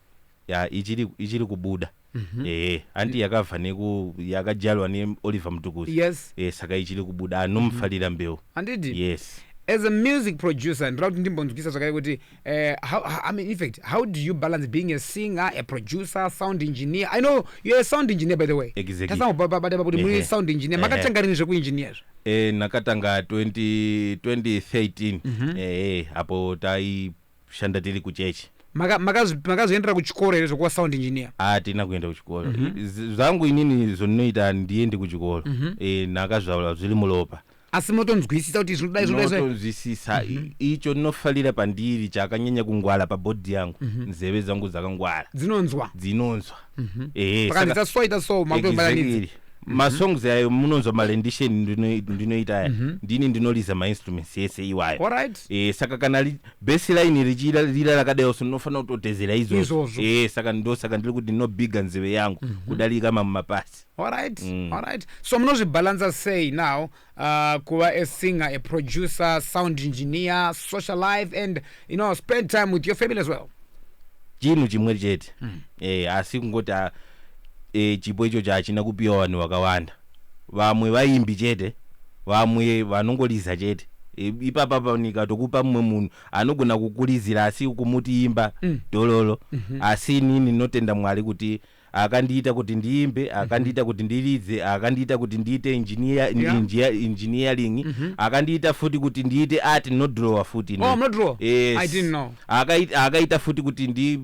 ya ichiri, ichiri kubuda mm -hmm. ehe hanti yakabva neku yakajalwa neoliver mutukuzi yes. e, saka ichiri kubuda anomufarira mm -hmm. mbeu handidi yes as a music producer ndinoda kuti ndimbonzwisa zvakare kuti Uh, how, I mean, in fact, how do you balance being a singer, a producer, sound engineer? I know you're a sound engineer, by the way. Exactly. That's sound engineer. Makatanga rini zveku engineer zvo? Eh, nakatanga 20, 2013. Mm -hmm. Eh, hapo tai shanda tili kuchechi. makazoendera kuchikoro here zvokuva sound engineer hatina ah, kuenda kuchikoro mhm. zvangu inini zvondinoita ndiende kuchikoro mhm. eh, nakazvaula zviri muropa asi motonzwisisa kuti zvinodai zvodaizvotonzwisisa mm -hmm. icho ndinofarira pandiri chakanyanya kungwara pabhodhi yangu mm -hmm. nzeve dzangu dzakangwara dzinonzwa dzinonzwa mm -hmm. ehe pakanzita so ita so makutobalanidza exactly. Mhm. masongs ayo munonzwa marendition ndinoita aya mhm. ndini ndinoriza mainstruments ese iwayo right. e, eh, saka kana baseline richirira rakadai so ndinofanira kutotezera izvozvo e, saka ndosaka ndiri kuti ndinobiga nzeve yangu mm -hmm. kudarika mamwe mapasi Alright, mm. alright. So munozvibalansa sei now uh, kuva a singer, a producer, sound engineer, social life and you know spend time with your family as well? Chinhu chimwe chete. Mm. Eh asi kungoti ah, eh chipo icho chachina kupiwa vanhu vakawanda. Vamwe vaimbi chete, vamwe vanongoliza chete. E, ipapa panika tokupa mumwe munhu anogona kukulizira asi kumuti imba mm. dololo mm -hmm. asi inini ndinotenda mwari kuti mm. akandiita kuti ndiimbe akandiita kuti ndiridze akandiita kuti ndiite engineer, Yeah. engineer, engineering akandiita futi kuti ndiite art ndinodrawer futi ini. Oh, mnodrawer? Yes. I didn't know. Akai- akaita futi kuti ndi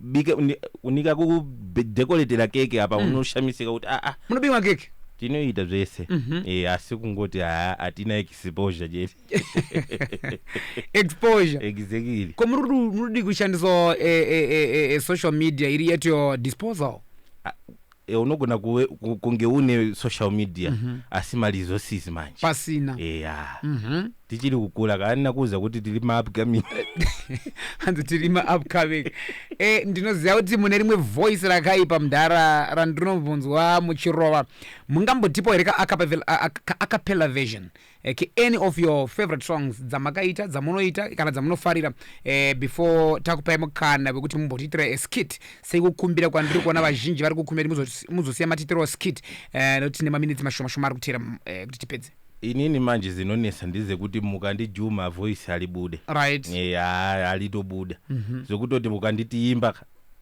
bike uni- unika kudekoretera keke apa unoshamisika kuti aa Munobika keke? tinoita zvese Eh, asi kungoti haa hatina exposure chete exposure exactly ko muri kudu- muri kudi kushandisawo eh, eh, eh, eh, eh, social media iri at your disposal Eh, unogona kuwe- ku- kunge une social media Mhm. asi ma resources manje pasina eya Mhm. tichiri kukura kaanina kuuza kuti tiri maupcoming hanzi tiri maupcoming e, ndinoziva kuti mune rimwe voice rakaipa mudhara randinombonzwa muchirova mungambotipo here ka acapella- a- a- ka acapella version Okay, any of your favorite songs dzamakaita dzamunoita kana dzamunofarira eh, before takupai mukana wekuti mumbotiitira a skit sekukumbira kwandiri kuona vazhinji vari kukumbira kuti muzo- muzosiya matiitirawo skit eh, nekuti tine maminitsi mashoma shoma ari kutera mm, eh, kuti tipedze inini manje zinonetsa ndezekuti mukandijuma voice halibude right Eh, ha- halitobuda zvekutoti mukanditiimba ka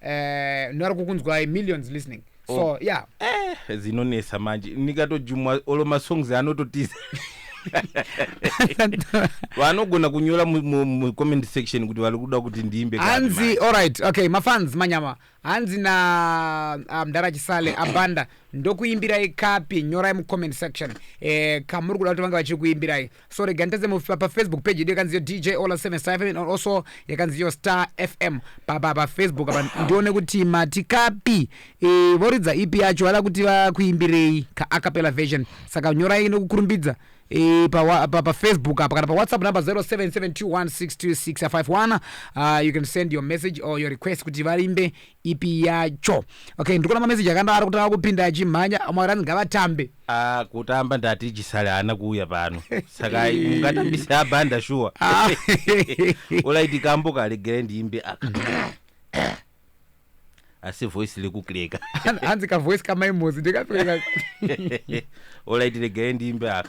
eh, nari kukunzwai millions listening so oh. yeah eh, zinonetsa manje ndikatojumwa olo masongs anototiza vanogona kunyora mucomment section kuti vari kuda kuti ndiimbe hanzi allright okay mafans manyama hanzi na ah, mdara chisale abanda ndokuimbirai kapi nyorai mucomment section eh, kamuri kuda kuti vange vachiri kuimbirai so rega nditadze mu- pa- pafacebook page yedu yakanziyo dj ola 757 or also yakanziyo star fm pa- pa- pafacebook apa ndione kuti mati kapi eh, voridza ipi yacho vada kuti vakuimbirei ka acapella version saka nyorai nokukurumbidza eh, pa wa- pa- pafacebook apa kana pawhatsapp number 0772162651 uh, you can send your message or your request kuti vaimbe ipi yacho okay ndikuona mameseji akandawari kutanga kupinda achimhanya amwe akati hanzi ngavatambe Ah, kutamba ndati chisale haana kuuya pano saka ungatambise abhanda shuwa Ah. olaiti kambo kalegere ndiimbe aka asi voice likukleka hanzi kavoice kamaimozi ndikapfeka olaiti legere ndiimbe aka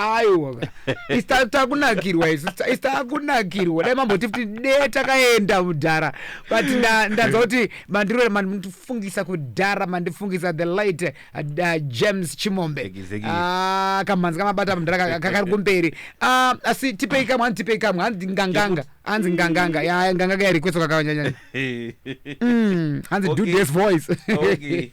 aiwa ista takunakirwa isu ista- ista takunakirwa dai mamboti kuti de takaenda mudhara but nda- ndanzwa kuti mandiro mandifungisa kudhara mandifungisa the light uh, uh, james chimombe Exactly. Ah, kamhanzi kamabata mudhara ka- ka- kari kumberi Ah, asi tipei kamwe hanzi tipei kamwe hanzi nganganga hanzi nganganga ya nganganga yarikweso kakanyanyanya hanzi do Okay. this voice Okay.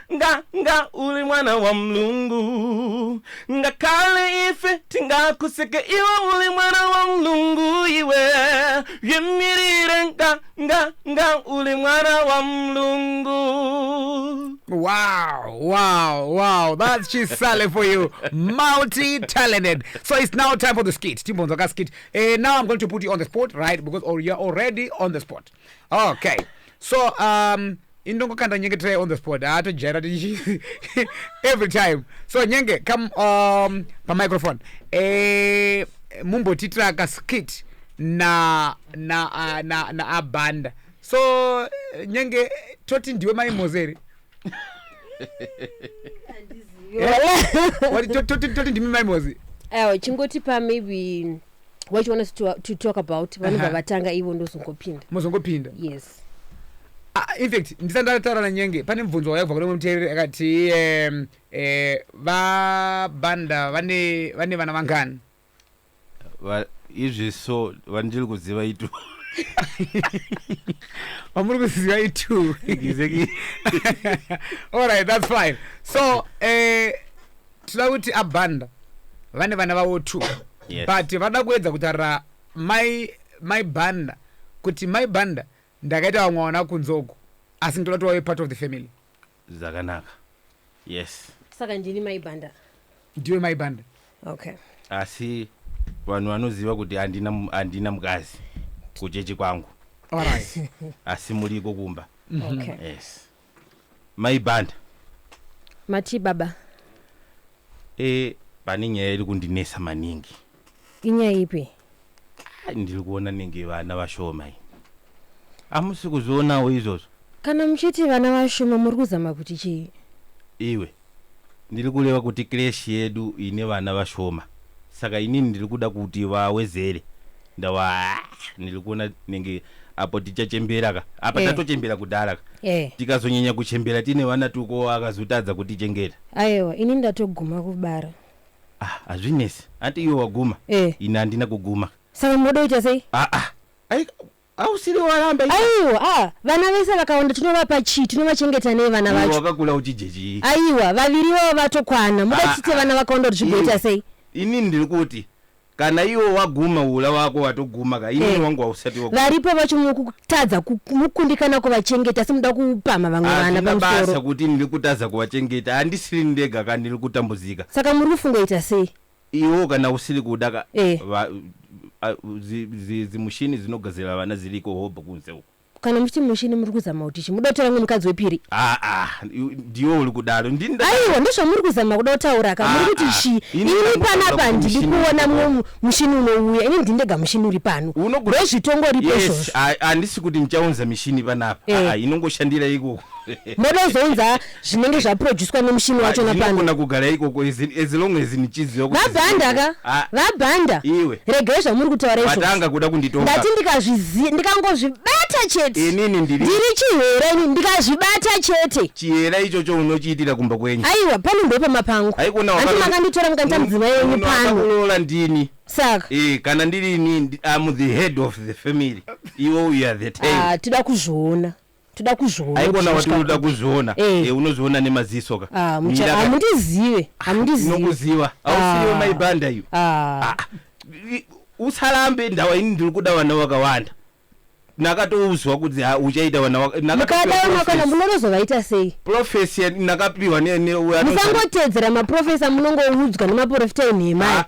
nga nga uri mwana wa mlungu ngakale ife tingakuseke iwe uri mwana wa mlungu iwe zvimirire nga nga nga uri mwana wa mlungu Wow, wow, wow. That's Chisale for you. Multi talented. So it's now time for the skit. Timbonzoka skit. Uh, now I'm going to put you on the spot, right? Because or you're already on the spot. Okay. So um ini ndongokanda nyenge try on the spot haa ah, tojaira tichi every time so nyenge come um, pamicrophone e, eh, mumbotiitira kaskit na na uh, na na abanda so nyenge toti ndiwe mai mozeri eh, toti ndimi mai mozi ewa chingotipa maybe what you want us to, uh, to talk about vanobva uh -huh. vatanga ivo ndozongopinda mozongopinda yes Ah, in fact ndisati ndataura nanyenge pane mubvunzo wauya kubva kune mumwe muteereri akati em, eh, vabanda vane vane vana vangani Va- izvi so vandiri kuziva itu vamuri kuziva itu Exactly. alright that's fine so eh, tinoda kuti abanda vane vana vavo two Yes. but vada kuedza kutarira Mai mai Banda kuti mai Banda ndakaita vamwe wana kunze uko asi ndoda kuti wave part of the family. Zvakanaka yes. Saka ndini mai Banda. Ndiwe mai Banda. Okay. Asi vanhu vanoziva kuti handina mu- handina mukadzi kuchechi kwangu. Alright. Asi muriko kumba. Okay. Yes. Mai Banda. Matii baba? Eh, pane nyaya iri kundinesa maningi. Inyaya ipi? Ah, ndiri kuona nenge vana vashoma iyi. Amusi kuzvionawo izvozvo? Kana muchiti vana vashoma muri kuzama kuti chii? Iwe. Ndiri kureva kuti creche yedu ine vana vashoma saka inini ndiri kuda kuti vawedzere ndava ndiri kuona nenge apo tichachembera ka apa Eh. tatochembera kudhara ka Eh. tikazonyanya kuchembera tine vana tuko akazotadza kutichengeta Ayewa ini ndatoguma kubara. ah hazvinesi ati iwe waguma Eh. ini handina kuguma Saka munoda kuita sei? ah ah Ai, Ausiri waramba iwe. Aiwa ah vana vese vakawanda tinovapa chii tinovachengeta nei vana Iwe vacho. wakakura uchidye chii? Aiwa vaviri ivavo vatokwana muda Ah, tiite ah. vana vakawanda kuti zvigoita Ini- sei. Inini ndiri kuti kana iwe waguma hura wako watoguma ka inini Eh. wangu hausati waguma. Varipo vacho mukutadza ku- mukundikana kuvachengeta asi muda kupamha vamwe vana Hazvina basa pamusoro. kuti ndiri kutadza kuvachengeta handisiri ndega ka ndiri kutambudzika. Saka muri kufungoita sei? Iwewo kana usiri kuda ka Eh. va- a- zi- zi- zimushini dzinogadzirira vana dziriko hobho kunze uko kana muchiti mushini muri kuzama kuti chi muda kutaura kunge mukadzi wepiri aa ndiwe uri kudaro ndini nda- aiwa ndozvamuri kuzama kuda kutaura ka muri Ah, kuti ah. chi Ini ini ndakutanga panapa kuti ndiri mushini kuona uripo. mumwe mushini unouya ini ndini ndega mushini uri pano Unogona- ndozvitongo ripo yes izvozvo a- handisi kuti ndichaunza mishini panapa Eh. Aa, inongoshandira ikoko moda kuzounza zvinenge zvaproducwa nemushini wacho napandinogona kugara ikoko as long as ndichiziva vabhanda ka ah. vabhanda iwe regai zvamuri kutaura izvo vatanga kuda kunditonga ndati ndikazvizi ndikangozvibata chete inini ndiri ndiri chihera ini ndikazvibata chete chihera ichocho unochiitira kumba kwenyu aiwa pano ndopa mapangu aikona wakati makanditora mukaita mudzima yenyu pano unola ndini saka eh kana ndiri ini am the head of the family iwe you are the tail ah tida kuzviona toda kuzviona haikona wati unoda kuzviona eh. eh, unozviona nemaziso ka ah, hamundizive ah, hamundizive nokuziva hausiyo ah. maibanda iyo usarambe ndawa ini ndiri kuda vana vakawanda nakatouzwa kuti uchaita vanamukadamakana munorozovaita sei profesi nakapiwa musangotedzera maprofesa munongoudzwa nemaprofita enhemai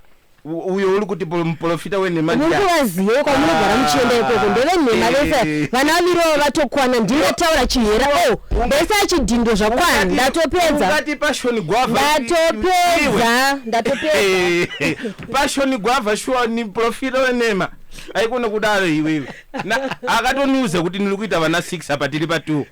uyo uri kuti muprofita wenhema ndikuvazive kwamunogara muchienda ikoko ah, ndevenhema vese eh. vana vamirowo vatokwana ndingataura chihera o oh, vese achidhindo zvakwana ndatopedza ndatopedza ndatopedzapashoni gwavha shuwa ni profita wenhema aikone kudaro iwewe akatoniuza kuti ndiri kuita vana six apa tiri patwo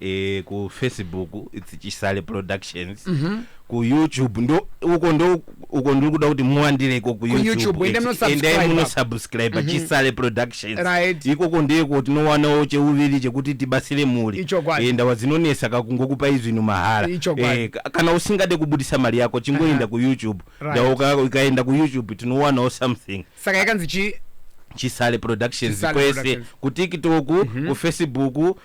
eh, ku facebook its chisale productions ku youtube ndo uko ndo uko ndiri kuda kuti muwandire iko ku YouTube, youtube endai It's- munosubscribe. endai munosubscribe chisale productions Right. ikoko ndiko tinowanawo cheuviri chekuti tibatsire mhuri Ichokwadi. Eh, ndawa dzinonesa kakungokupa izvinhu mahara Ichokwadi. Eh, ka- kana usingade kubudisa mari yako chingoenda ku youtube Right. Ndawa uka- ukaenda ku youtube tinowanawo something saka yakanzi chi chisale productions Chisale kwese Productions. kutiktok kufacebook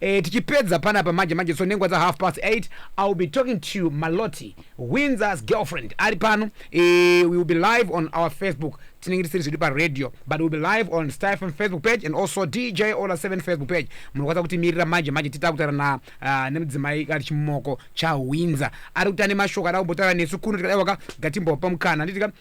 Eh, tichipedza panapa manje manje so nenguva dza half past 8 i will be talking to you maloti windsors girlfriend ari pano eh, we will be live on our facebook tinenge tisiri zvedu paradio but we'll be live on stafm facebook page and also dj ola 7 facebook page munokwanisa kutimirira manje manje tita kutaura na uh, nemudzimai ari chimoko chawinza ari kuti ane mashoko ada kumbotaura nesu kuno tikadaiwaka gatimbopa mukana handiti ka